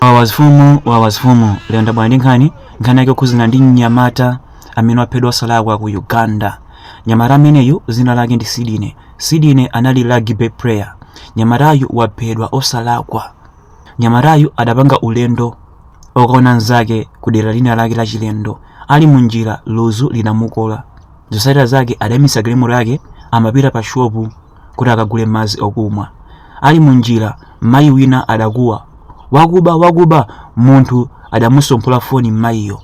Wawa mfumu wawa mfumu lero ndabwera ndi nkhani nkhani yake yokhuzana ndi mnyamata amene waphedwa osalakwa ku uganda nyamata ameneyu zina lake ndi Sidney Sidney anali rugby player nyamatayu waphedwa osalakwa nyamatayu adapanga ulendo okaona nzake ku dera lina lake la chilendo ali mu njira luzu linamukola zotsatira zake adaimitsa galimoto yake amapita pa shopu kuti akagule madzi okumwa. Ali munjira, mayi wina adakuwa, wakuba, wakuba! Munthu adamusomphola foni mayiyo.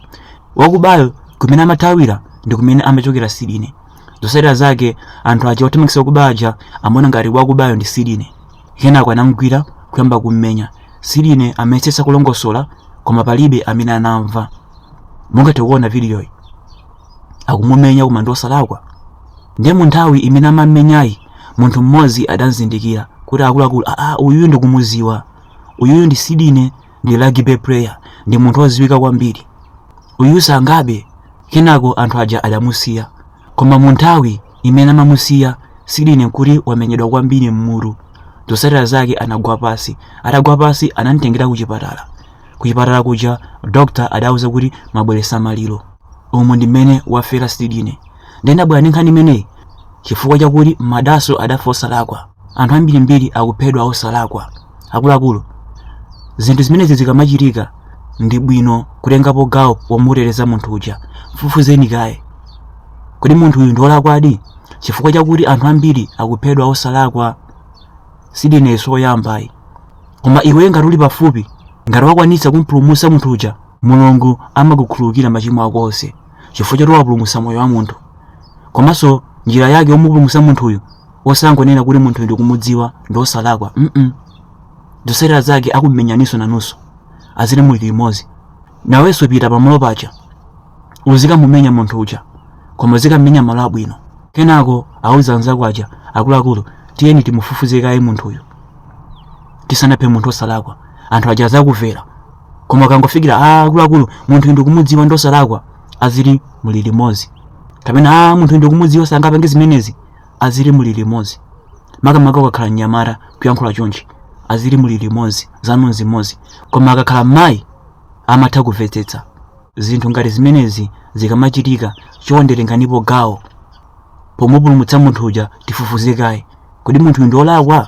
Wakubayo kumene amathawira ndi kumene amachokera Sidney. Zotsatira zake anthu aja othamangitsa wakuba aja amaona ngati wakubayo ndi Sidney. Kenako anamugwira kuyamba kummenya. Sidney amayesetsa kulongosola koma palibe amene anamva. Mungathe kuona vidiyoyi. akumumenya koma ndiosalakwa ndiye mu nthawi imene amammenyayi munthu mmodzi adamzindikira kuti akuluakulu aa uyuyu ndikumuziwa uyuyu ndi Sidney ndi rugby player ndi munthu woziwika kwambiri uyu sangabe kenako anthu aja adamusiya koma mu nthawi imene amamusiya Sidney nkuti wamenyedwa kwambiri mmutu zotsatira zake anagwa pasi atagwa pasi anamtengera ku chipatala ku chipatala kuja dokta adauza kuti mwabweresa maliro umu ndi mmene wafera Sidney nde ndabwera ndi nkhani imeneyi chifukwa chakuti madaso adafa osalakwa anthu ambirimbiri akuphedwa osalakwa akuluakulu zinthu zimenezi zikamachitika ndi bwino kutengapo gawo pomuteteza munthu uja mfufuzeni kaye kodi munthu uyu ndiwolakwadi chifukwa chakuti anthu ambiri akuphedwa osalakwa Sidney si oyamba ayi koma iwe ngati uli pafupi ngati wakwanitsa kumpulumutsa munthu uja mulungu amakukhululukira machimo ako onse chifukwa choti wapulumutsa moyo wa munthu komanso njira yake yomupulumutsa munthuyu osangonena kuti munthuyu ndikumudziwa ndi osalakwa mm zotsatira zake akumenyaninso nanunso aziti muli limodzi nawenso pita pamalo paja uzikamumenya munthu uja koma uzikamumenya malo abwino kenako auze anzako aja akuluakulu tiyeni timufufuze kaye munthuyu tisanaphe munthu osalakwa anthu aja azakuvera koma ukangofikira a akuluakulu munthu uyu ndikumudziwa ndi osalakwa aziti muli limodzi kapena a munthu uyu ndikumudziwa sangapange zimenezi aziti muli limodzi makamaka ukakhala mnyamata kuyankhula chonchi aziti muli limodzi zanu nzimodzi koma akakhala mayi amatha kumvetsetsa zinthu ngati zimenezi zikamachitika chonde tenganipo gawo pomupulumutsa munthu uja tifufuze kaye kodi munthu uyu ndiolakwa